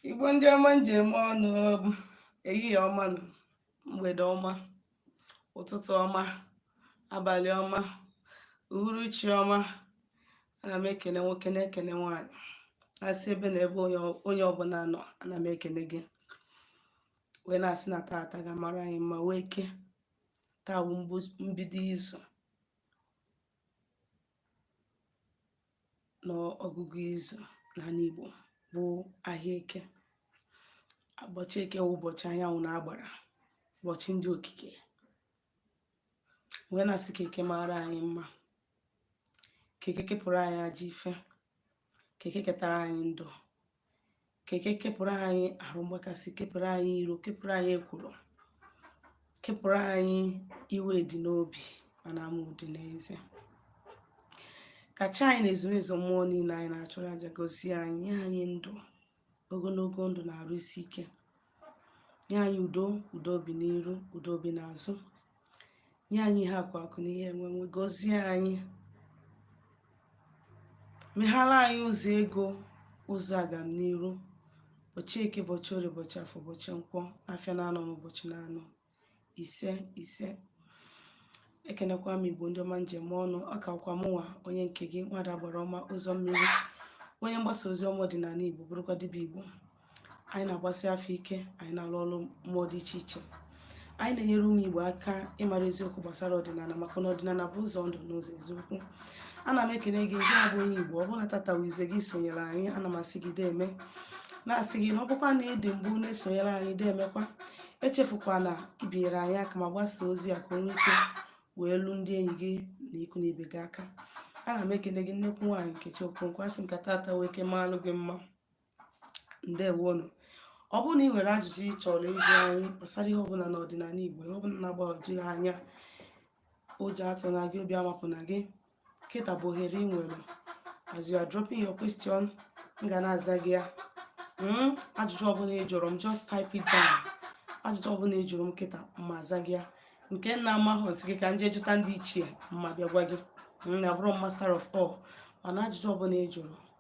igbo ndị ọma m ji eme ọnụ ehihie ọma nụ mgbede ọma ụtụtụ ọma abalị ọma uhuruchi ọma ana m ekene nwoke na-ekene nwaanyị asị ebe na ebe onye ọbụla nọ ana m ekene gị wee na-asị na taata ga-amara anyị mma wụ eke taa bụ mbido izu n'ọgụgụ izu n'ala Igbo bụ ahịa eke ụbọchị eke wụ ụbọchị anyanwụ na agbara ụbọchị ndị okike wee na-asị ka eke mara anyị mma ka eke kepụrụ anyị ajọ ife ka eke ketara anyị ndụ ka eke kepụrụ anyị arụ mgbakasị kepụrụ anyị iro kepụrụ anyị ekworo kepụrụ anyị iwe dị n'obi mana amụ dị n'eze ka chi anyị na ezumezu mmụọ niile anyị na-achụrụ aja gozie anyị nye anyị ndụ ogologo ndụ na arụ isi ike nye anyị udo udo obi n'iru udo obi n'azụ nye anyị ihe akụ akụ na ihe enwenwe gọzie anyị meghara anyị ụzọ ego ụzọ agamniru bọchị eke bọchị orie bọchị afọ bọchị nkwọ afịa na anọ na ụbọchị na anọ ise ise ekenekwa m igbo ndị ọma m ji eme ọnụ ọ kakwa mụnwa onye nke gị nwada agbara ọma ụzọ mmiri onye mgbasa ozi ọma ọdịnala igbo bụrụkwa dibịa igbo anyị na-agbasi afa ike anyị na-alụ ọrụ mmụọ dị iche iche anyị na-enyere ụmụ Igbo aka ịmara eziokwu gbasara ọdịnala maka na ọdịnala bụ ụzọ ndụ na ụzọ eziokwu ana m ekele gị gị bụ onye Igbo ọ bụrụ na tata wụ izizi gị sonyere anyị ana m asị gị deeme na-asị gị na ọ bụkwa na ị dị mbụ na-esonyere anyị deemekwa echefukwana ibinyere anyị aka ma gbasaa ozi a ka o nwee ike wee luo ndị enyi gị na ikwu na ibe gị aka ana m ekele gị nnekwu nwaanyị Nkechi Okonkwo asị m ka tata wụ eke maalụ gị mma ndewonụ ọ bụrụ na ị nwere ajụjụ ị chọrọ ịjụ anyị gbasara ihe ọbụla n'ọdịnala Igbo ihe ọbụla na-agbagwoju gị anya ụjọ atụna gị obi amapụna gị kịta bụ ohere ị nwere as you are dropping your question m ga na-aza gị ya hmm? ajụjụ ọbụla ị jụrụ m just type it down ajụjụ ọbụla ị jụrụ m kịta ma aza gị ya nke m na-amahụ m sị gị ka m jee jụta ndị ichie ma bịa gwa gị m abụrọ master of all mana ajụjụ ọbụla ị jụrụ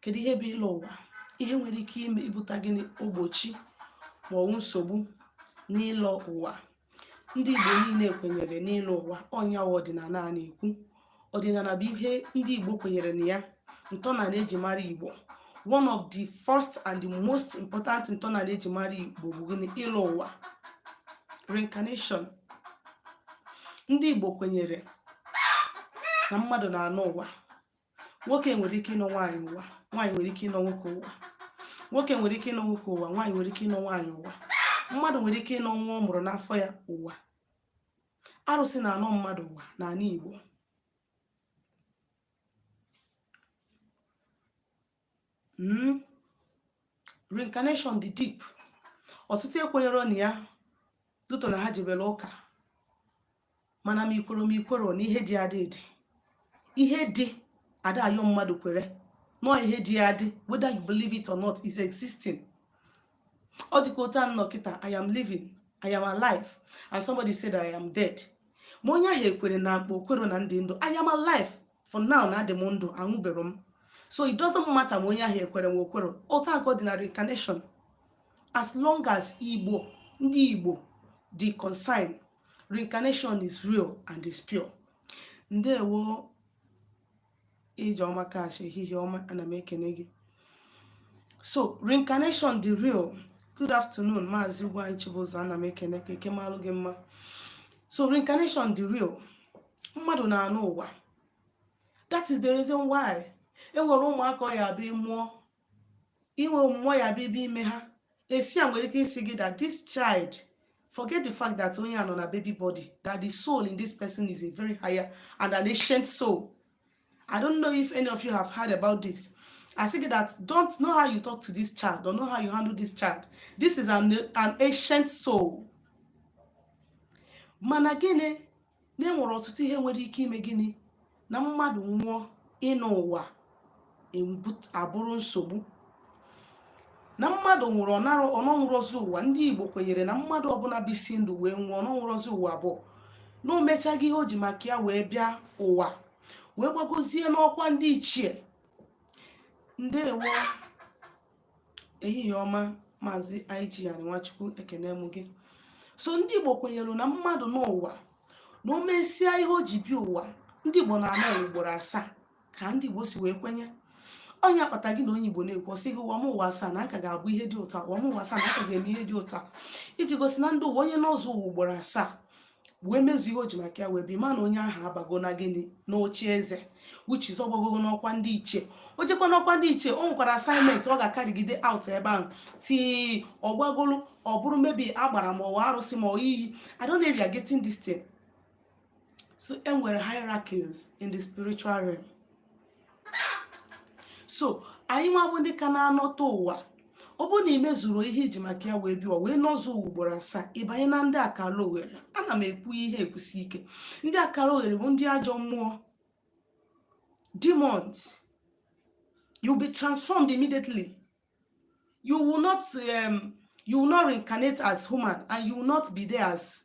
kedu ihe bụ ịlọ ụwa ihe nwere ike ime ibuta gịnị mgbochi ma ọ bụ nsogbu n'ịlọ ụwa ndị igbo niile kwenyere n'ịlọ ụwa ọ nya wụ ọdịnala a na-ekwu ọdịnala bụ ihe ndị igbo kwenyere na ya ntọnala eji mara igbo one of the first and the most important ntọnala eji mara igbo bụ gịnị ịlọ ụwa reincarnation ndị igbo kwenyere na mmadụ na-anọ ụwa nwoke nwere ike ịnọ nwaanyị ụwa nwaanyị nwere ike ịnọ nwoke ụwa nwoke nwere ike ịnọ nwoke ụwa nwaanyị nwere ike ịnọ nwaanyị ụwa mmadụ nwere ike ịnọ nwa ọ mụrụ n'afọ ya ụwa arụsị na-anọ mmadụ ụwa n'ala Igbo hmm? reincarnation dị deep ọtụtụ ekwenyero na ya due to na ha jebere ụka mana ma i kwere ma i kwero na ihe dị adị dị ihe dị a da ayọ mmadụ kwere na ọ ihe dị adị whether you believe it or not is existing ọ dịka otu m nọ kịta i am living i am alive and somebody said that i am dead ma onye ahụ ekwere na mkpa o kwero na m dị ndụ i am alive for now na adị m ndụ anwụbero m so it doesn't matter ma onye ahụ ekwere ma o kwero otu a ka ọ dị na reincarnation as long as igbo ndị igbo dị concerned reincarnation is real and is pure ndewo ijeọma kash ehihie ọma ana m ekene gị so reincarnation dị real good afternoon maazị Ugwuanyị chibụzọ ana m ekene ka eke malụ gị mma so reincarnation dị real mmadụ na-anọ ụwa that is the reason why e nwere ụmụaka ọ ya-abụ a mụọ inwe mmụọ ya bịa ibe ime ha esi e nwere ike ịsị gị that this child forget the fact that onye a nọ na baby body that the soul in this person is a very higher and an ancient soul I don't know if any of you have heard about this. A sị gị that don't know how you talk to this child, don't know how you handle this child. This is an, an ancient soul. Mana gịnị na enwere ọtụtụ ihe nwere ike ime gịnị na mmadụ nwụọ ịnọ ụwa abụrụ nsogbu na mmadụ nwụrụ ọ nara ọ nọnwurozi ụwa ndị igbo kwenyere na mmadụ ọbụla bisi ndụ wee nwụọ ọ nọnwurozi ụwa bụ na o mechago ihe o ji maka ya wee bịa ụwa wee gbagozie n'ọkwa ndị ichie ndewo ehihie ọma maazị Igian Nwachukwu ekene m gị so ndị Igbo kwenyere na mmadụ n'ụwa na o mesịa ihe o ji bịa ụwa ndị Igbo na-anọ ugboro asaa ka ndị Igbo si wee kwenye ọ nya kpata gị na onye Igbo na-ekwu ọ sị gị ụwa m ụwa asaa na aka m ga-abụ ihe dị otu a ụwa m ụwa asaa na aka m ga-eme ihe dị otu a iji gosi na ndị ụwa onye nọzuo ụwa ugboro asaa wee mezu ihe o ji maka ya wee bịa mara na onye ahụ abago na gịnị n'oche eze which is ọ gbagogo n'ọkwa ndị ichie o jekwa n'ọkwa ndị ichie o nwekwara assignment ọ ga-acarrygide out ebe ahụ till ọ gbagolu ọ bụrụ maybe agbara ma ọ wụ arụsị ma ọ iyi I don't know if you are getting this thing so e nwere hierarchies in the spiritual realm so anyị nwa bụ ndị ka na-anọta ụwa ọ bụrụ na ị mezuru ihe i ji maka ya wee bịa wee nọzuo ụwa ugboro asaa ị banye na ndị akara oghere ana m ekwu ihe ekwusi ike ndị akara oghere bụ ndị ajọ mmụọ demons you'll be transformed immediately you will not um, you will not reincarnate as human and you will not be there as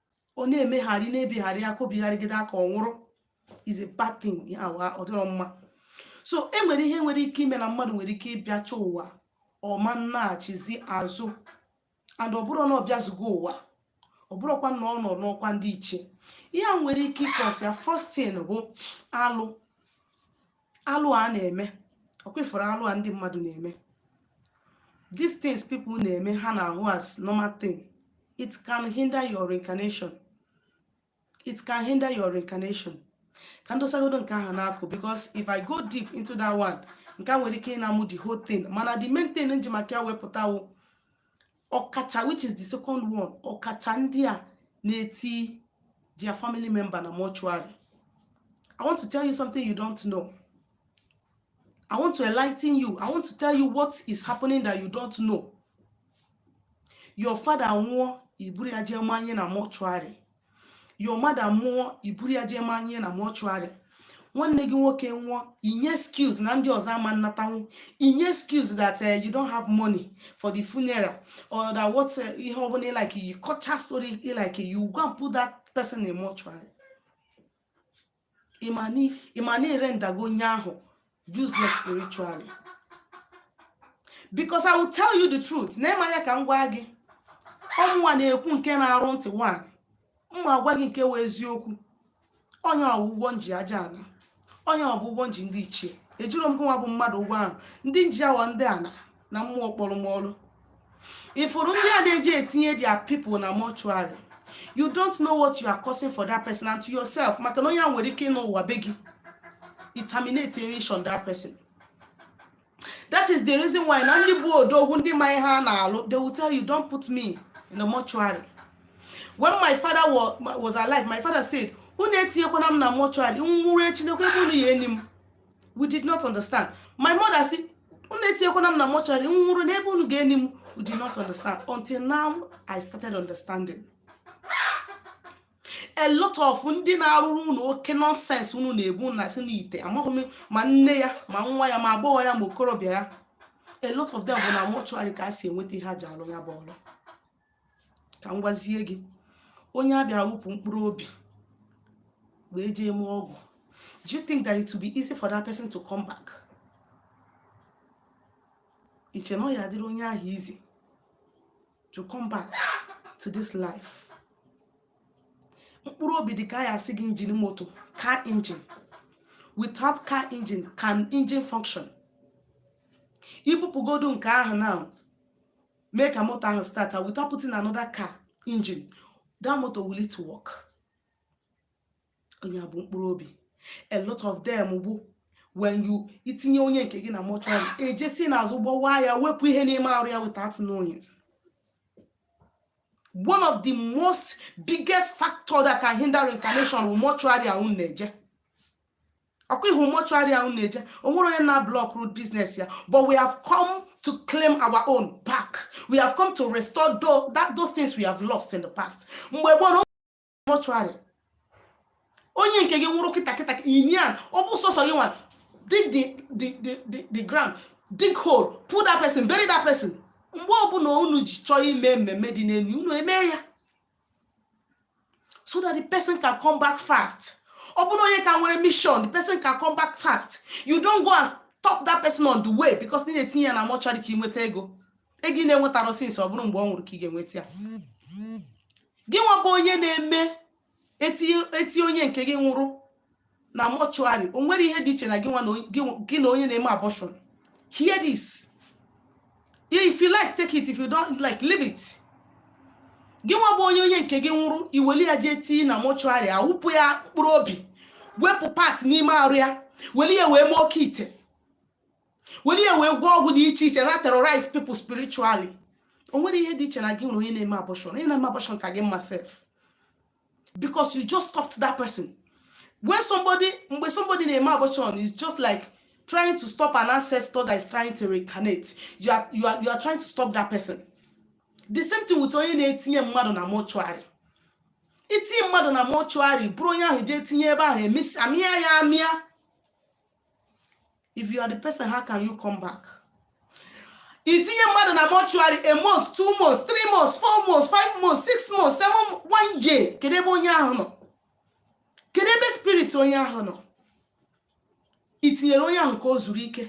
ọ na-emegharị na-ebigharị aka o bigharịgide aka ọ nwụrụ is a bad thing awa ọ dịrọ mma so e nwere ihe nwere ike ime na mmadụ nwere ike ịbịacha ụwa ọ ma nnaghachizi azụ and ọ bụrụ na ọ bịazugo ụwa ọ bụrụkwa na ọ nọ n'ọkwa ndị ichie ihe a nwere ike ịkọsi ya first thing bụ alụ alụ a na-eme ọkwa ị fụrụ alụ a ndị mmadụ na-eme these things people na-eme ha na-ahụ as normal thing it can hinder your reincarnation it can hinder your reincarnation ka ndosagodo nke ahụ n'akụkụ because if i go deep into that one nke a nwere ike ịna m the whole thing mana the main thing nji maka ya wepụta wụ ọkacha which is the second one ọkacha ndị a na-eti their family member na mortuary i want to tell you something you don't know i want to enlighten you i want to tell you what is happening that you don't know your father nwụọ iburu ya jee manye na mortuary your mother nwụọ i buru ya jee manye na mortuary nwanne gị nwoke nwụọ i nye excuse na ndị ọzọ ama nnatanwu i nye excuse that uh, you don't have money for the funeral or that what uh, ihe ọbụla like ị kọchaa story like you go and put that person in mortuary ị ma na ị rendago onye ahụ useless spiritually because i will tell you the truth nee m anya ka m gwa gị ọ mụnwa na-ekwu nke na-arụ ntị nwa m ma agwa gị nke wụ eziokwu ọ nya bụ ụgwọ nji aja ana ọ nya bụ ụgwọ nji ndị ichie ejiro m gị nwa bụ mmadụ ụgwọ ahụ ndị nji ya wụ ndị ana na mmụọ kpọrọ m ọrụ ị fụrụ ndị a na-eji etinye their people na mortuary you don't know what you are causing for that person and to yourself maka na onye a nwere ike ịnọ ụwa be gị it terminates on that person that is the reason why na ndị bụ odogwu ndị ma ihe a na-alụ they will tell you don't put me in the mortuary when my father was alive my father said unu etinyekwana m na mortuary m nwụrụ echi nekwa ebe unu ya-eni m we did not understand my mother sị unu etinyekwana m na mortuary m nwụrụ nee ebe unu ga-eni m we did not understand until now i started understanding a lot of ndị na-arụrụ unu oke nonsense unu na-ebu na-asị n'ite amaghị m ma nne ya ma nwa ya ma agbọghọ ya ma okorobịa ya a lot of them bụ na mortuary ka a si enweta ihe a ji alụ ya bụ ọrụ ka m gwazie gị onye a bịa wụpụ mkpụrụ obi wee jee mee ọgwụ do you think that it will be easy for that person to come back iche na ọ ya adịrị onye ahụ easy to come back to this life mkpụrụ obi dị ka ya asị gị engine moto car engine without car engine can engine function ibupụgodu nke ahụ now mee ka moto ahụ start without putting another car engine that moto will it work ọ ya bụ mkpụrụ obi a lot of them bụ when you itinye onye nke gị na mortuary e jee si n'azụ gbawa ya wepụ ihe n'ime arụ ya without knowing one of the most biggest factor that can hinder reincarnation bụ mortuary a unu na-eje ọkwa ị hụ mortuary a unu na-eje onwerọ onye na-block root business ya but we have come to claim our own back we have come to restore that, those things we have lost in the past mgbe gboo no mortuary onye nke gị nwụrụ kịta kịta i nie ya ọ bụ sọsọ gị nwa dig the, the, the, the, the ground dig hole put that person bury that person mgbe ọbụla unu ji chọọ ime mmemme dị n'elu unu eme ya so that the person can come back fast ọ bụrụ onye ka nwere mission the person can come back fast you don't go and stop that person on the way because ị na-etinye ya na mortuary ka ị nweta ego ego ị na-enwetarọ since ọ bụrụ mgbe ọ nwụrụ ka ị ga-enweta ya gị nwa bụ onye na-eme eti onye nke gị nwụrụ na mortuary o nwerọ ihe dị iche na gị na onye na-eme abortion hear this if you like take it if you don't like leave it gị nwa bụ onye onye nke gị nwụrụ iweli ya jee tii na mortuary awụpụ ya mkpụrụ obi wepụ part n'ime arụ ya weli ya wee mee oke ite weli ya wee gwọọ ọgwụ dị iche iche na terrorize people spiritually o nwerọ ihe dị iche na gị na onye na-eme abortion onye na-eme abortion ka gị mma sef because you just stopped that person when somebody mgbe somebody na-eme abortion is just like trying to stop an ancestor that is trying to reincarnate you are, you are, you are trying to stop that person the same thing with onye na-etinye mmadụ na mortuary itinye mmadụ na mortuary buru onye ahụ jee tinye ebe ahụ amịa ya amịa if you are the person how can you come back itinye mmadụ na mortuary a month two months three months four months five months six months seven one year kedu ebe onye ahụ nọ kedu ebe spirit onye ahụ nọ itinyere onye ahụ ka o zuru ike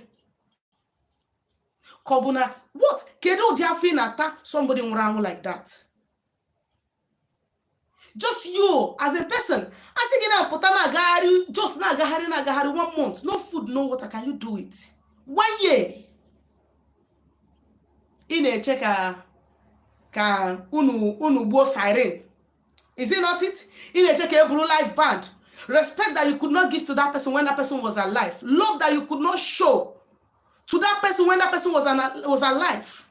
ka ọ bụ na what kedu ụdị afụfụ ị na-ata somebody nwụrụ anwụ like that just you as a person a sị gị na-apụta na-agagharị just na-agagharị na-agagharị one month no food no water can you do it one year ị na-eche ka ka unu unu gbuo siren is it not it ị na-eche ka e buru live band respect that you could not give to that person when that person was alive love that you could not show to that person when that person was, an, was alive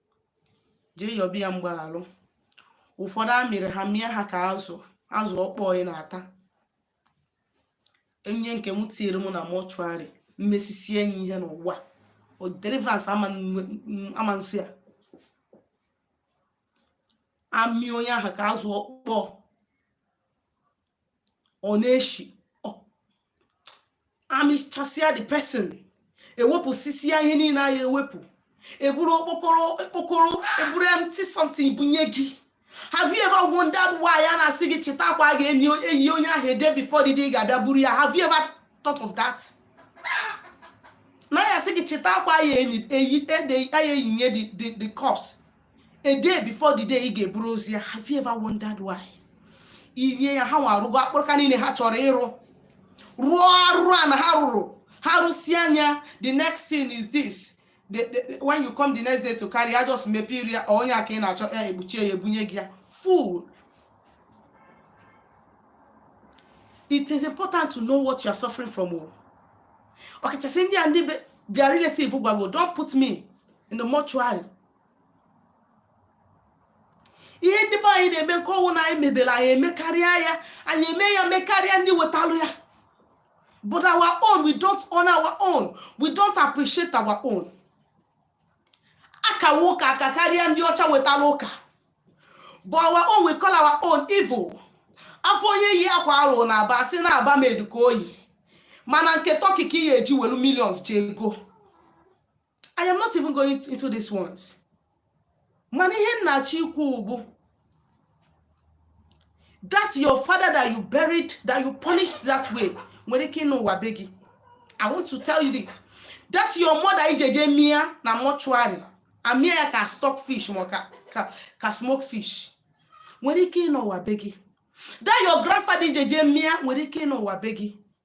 jee yọba ya mgbaghalụ ụfọdụ a mịrị ha mịa ha ka azụ azụ ọkpọ ị na-ata onye nke tinyere m na mortuary m mesisie nya ihe n'ụwa deliverance ama nsị ya amị onye ahụ ka azụ ọkpọ ọ na-eshi amịchasịa the person ewepụsịsịa ihe niile a ya-ewepụ eburu okpokoro okpokoro eburu empty something bunye gị have you ever wondered why a na-asị gị chịta akwa a ga-eyi onye ahụ a day before the day ị ga-abịa buru ya have you ever thought of that? na a ya-asị gị chịta akwa a ya-eyi ede a ya-eyinye the corpse a day before the day ị ga-eburu ozu ya have you ever wondered why ị nye ya ha nwa arụgo akpụrụka niile ha chọrọ ịrụ rụọ arụ a na ha rụrụ ha rụsie anya the next thing is this the, the, when you come the next day to carry ya just mepee iru ya onye aka ị na-achọ ya ekpuchie ya ebunye gị ya fool it is important to know what you are suffering from o oh. ọkachasị ndị a ndị their relative gwagwo don't put me in the mortuary ihe ndị be anyị na-eme nke ọ wụ na anyị mebere anyị emekarịa ya anyị eme ya mekarịa ndị wetalụ ya but our own we don't own our own we don't appreciate our own a kawa ụka akakarịa ndị ọcha wetara ụka but our own we call our own evil a fụ onye yi akwa a rụ na Aba sị na Aba made ka o yi mana nke Turkey ka ị ya-eji welu millions je ego I am not even going into this ones mana ihe m na-achọ ikwu bụ that your father that you buried that you punished that way nwere ike ịnọ ụwa be gị I want to tell you this that your mother i je je mịa na mortuary a mịa ya ka stock fish ma ka, ka, ka smoke fish nwere ike ịnọ ụwa be gị that your grandfather i je je mịa nwere ike ịnọ ụwa be gị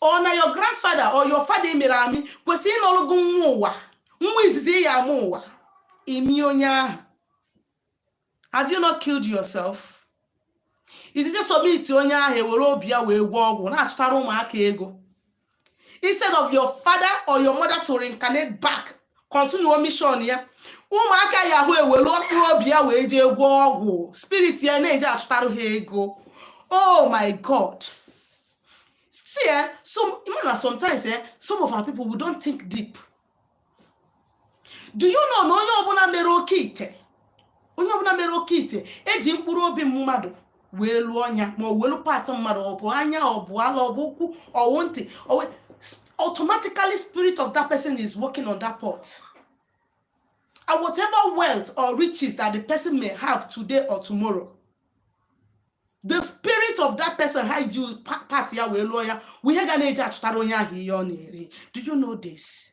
ọ na your grandfather or your father a mịrị amị kwesịrị ịnọrụ gị nwa ụwa nwa izizi ị ya-amụ ụwa ị mị onye ahụ have you not killed yourself izizi submit onye ahụ ewere obi ya wee gwọọ ọgwụ na-achụtara ụmụaka ego instead of your father or your mother to reincarnate back kọntinuo mishọn ya ụmụaka ya ahụ ewelu mkpụrụ obi ya wee jee gwọọ ọgwụ spirit ya na-eji achụtarụ ha ego oh my god see eh, some na sometimes eh, some of our people we don't think deep do you know na onye ọbụla mere oke ite onye ọbụla mere oke ite eji mkpụrụ obi mmadụ wee lụọ nya ma ọ welu part mmadụ ọ bụ anya ọ bụ ala ọ bụ ụkwụ ọ wụ ntị automatically spirit of that person is working on that pot and whatever wealth or riches that the person may have today or tomorrow the spirit of that person ha ji part ya wee lụọ ya wụ ihe ga na-eji achụtara onye ahụ ihe ọ na-eri do you know this?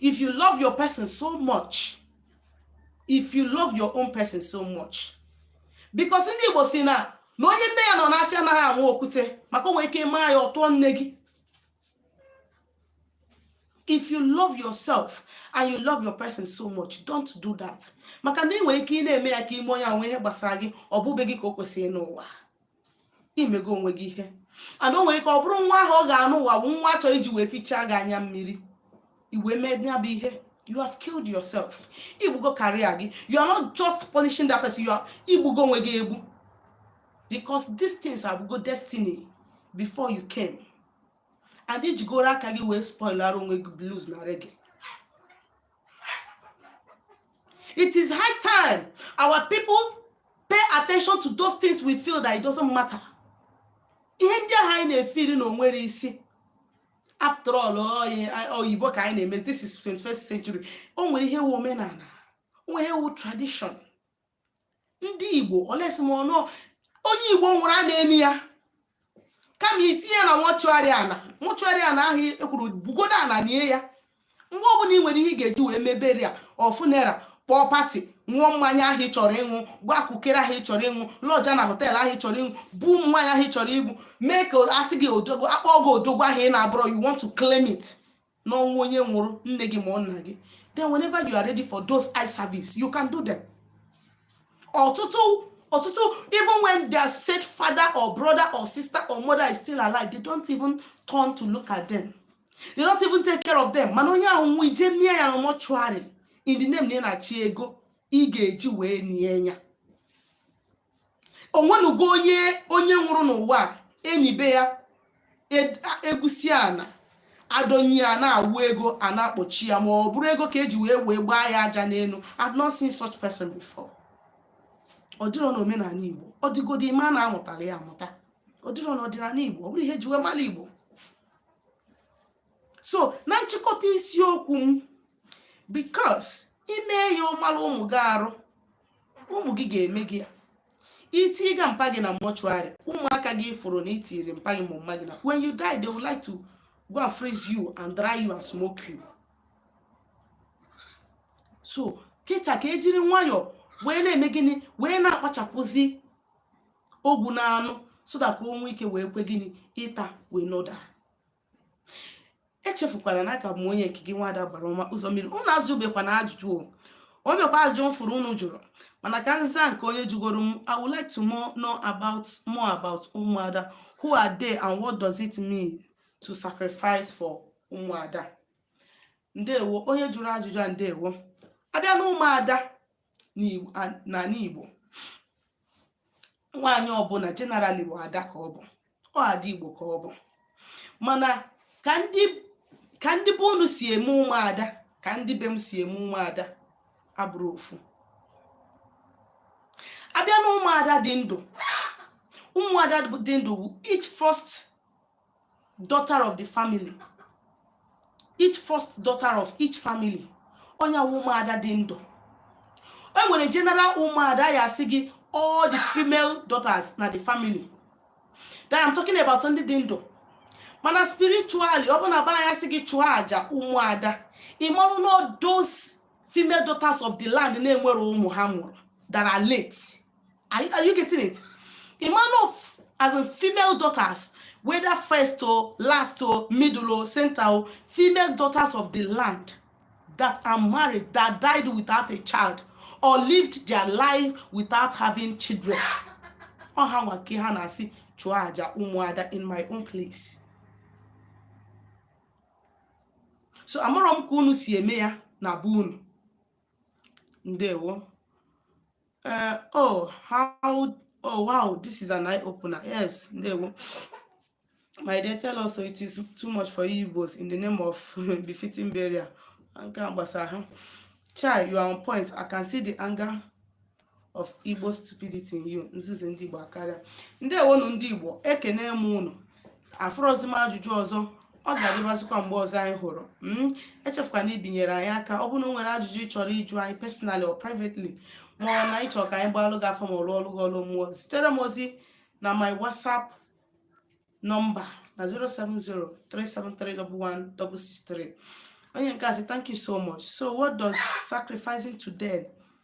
if you love your person so much if you love your own person so much because ndị Igbo si na na onye nne ya nọ n'afịa anara anwụ okwute maka o nwere ike ị maa ya ọ tụọ nne gị if you love yourself and you love your person so much don't do that maka na ị nwere ike ị na-eme ya ka i mee onye ahụ ihe gbasara gị ọ bụbe gị ka o kwesịrị ịnọ ụwa imego onwe gị ihe and o nwere ike ọ bụrụ nwa ahụ ọ ga-anọ ụwa bụ nwa a chọ iji wee fichaa gị anya mmiri i wee mee ya bụ ihe you have killed yourself igbugo career gị you are not just punishing that person you are igbugo onwe gị egbu because these things abụgo destiny before you came and ijigoro aka gị wee spoilara onwe gị blues na reggae It is high time our people pay attention to those things we feel that it doesn't matter. ihe ndị ahụ anyị na-efeel na o nwerọ isi after all oyibo ka anyị na-emezi this is 21st century o nwere ihe wu omenala o nwere ihe wu tradition ndị igbo olesimọnụ onye igbo nwụrụ a na-eni ya kama itinye ya na mọchụarị ana mọchụarị ana ahụ ekwuru bugodo ana nie ya mgbe ọbụla ị nwere ihe ị ga-eji wee mebere ya funeral kpọọ pati ṅụọ mmanya ahụ ị chọrọ ịṅụ gbaa kukere ahụ ị chọrọ ịṅụ lọja na họteelụ ahụ ị chọrọ ịṅụ gbuo ụmụ nwaanyị ahụ ị chọrọ igbu mee ka a sị gị odogwu a kpọọ gị odogwu ahụ ị na-abụrọ you want to claim it n'ọnwụ onye nwụrụ nne gị ma ọ nna gị then whenever you are ready for those eye service you can do them ọtụtụ ọtụtụ even when their said father or brother or sister or mother is still alive they don't even turn to look at them they don't even take care of them mana onye ahụ nwụọ i jee nie ya mọchụarị in the name na ị na-achọ ego ị ga-eji wee nie ya onwenugo onye onye nwụrụ n'ụwa enibe ya e- a- egwusi ana adọnye ya a na-awụ ego a na-akpochi ya ma ọ bụrụ ego ka eji wee wee gbaa ya aja n'elu I've not seen such person before ọ dịrọ n'omenala Igbo ọ dịgodi ị ma na a mụtara ya amụta ọ dịrọ n'ọdịnala Igbo ọ bụrọ ihe eji wee mara Igbo so na nchịkọta isiokwu m because i mee ya ọ mara ụmụ gị arụ ụmụ gị ga-eme gị ya i tiga mpa gị na mortuary ụmụaka gị fụrụ na itiri mpa gị ma mma gị na when you die they would like to go and freeze you and dry you and smoke you so kịta ka ejiri nwayọọ wee na-eme gịnị wee na-akpachapụzi ogwu na anụ so that ka o nwee ike wee kwe gịnị ịta wee noda echefukwana na aka m onye nke gị nwada agbara ọma ụzọ mmiri unu ajụbekwana ajụjụ o o nwebekwa ajụjụ m fụrụ unu jụrụ mana ka m zaa nke onye jụgoro m I would like to know more about ụmụada who are they and what does it mean to sacrifice for ụmụada ndewo onye jụrụ ajụjụ a ndewo abịa na ụmụada n'ana Igbo nwaanyị ọbụna generally bụ ada ka ọ bụ ọ ada Igbo ka ọ bụ mana ka ndị ka ndị be unu si eme ụmụada ka ndị be m si eme ụmụada abụrọ ofu abịa na ụmụada dị ndụ ụmụada dị ndụ each first daughter of the family each first daughter of each family onye ụmụada dị ndụ e nwere general ụmụada ya asị gị all the female daughters na the family that I'm talking about ndị dị ndụ mana spiritually ọ bụ na be anyị asị gị chụọ aja ụmụada ị marụ na those female daughters of the land na-enwerọ ụmụ ha mụrụ that are late are you, are you getting it ị ma na as in female daughters whether first or last or middle or center all female daughters of the land that are married that died without a child or lived their life without having children ọ ha nwa ka ha na-asị chụọ aja ụmụada in my own place so amarọ m ka unu si eme ya na be unu ndewo Uh, oh, how, oh, wow, this is an eye opener. Yes, there we My dear, tell us so it is too much for you both in the name of befitting burial. Chai, you are on point. I can see the anger of Igbo stupidity in you. Nzuzu ndị Igbo akarịa. Ndewonu ndị Igbo, ekene m unu. afụrọzi m ajụjụ ọzọ ọ ga-adịbazikwa mgbe ọzọ anyị hụrụ hmm? echefukwana ibinyere anyị aka ọ bụrụ na o nwere ajụjụ ị chọrọ ịjụ anyị personally or privately ma ọ na ịchọ ka anyị gbaalụ gị afa ma ọ lụọlụ gị ọlụ mmụọ zitere m ozi na my whatsapp number na 07037311663 onye nke a sị thank you so much so what does sacrificing today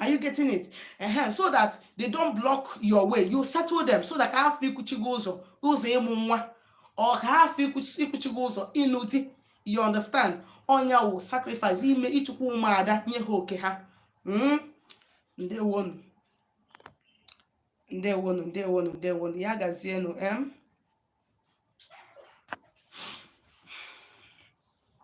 Are you getting it? Ehe. So that they don't block your way. You settle them so that ka ha hafụ ịkwụchi gị ụzọ ụzọ ịmụ nwa or ka ha hafụ ịkwụchi gị ụzọ ịnụ di you understand ọ nya wụ sacrifice ime ịchụkwu ụmụada nye ha oke ha hmm? ndewonu ndewonu ndewonu ndewonu ya gazienu em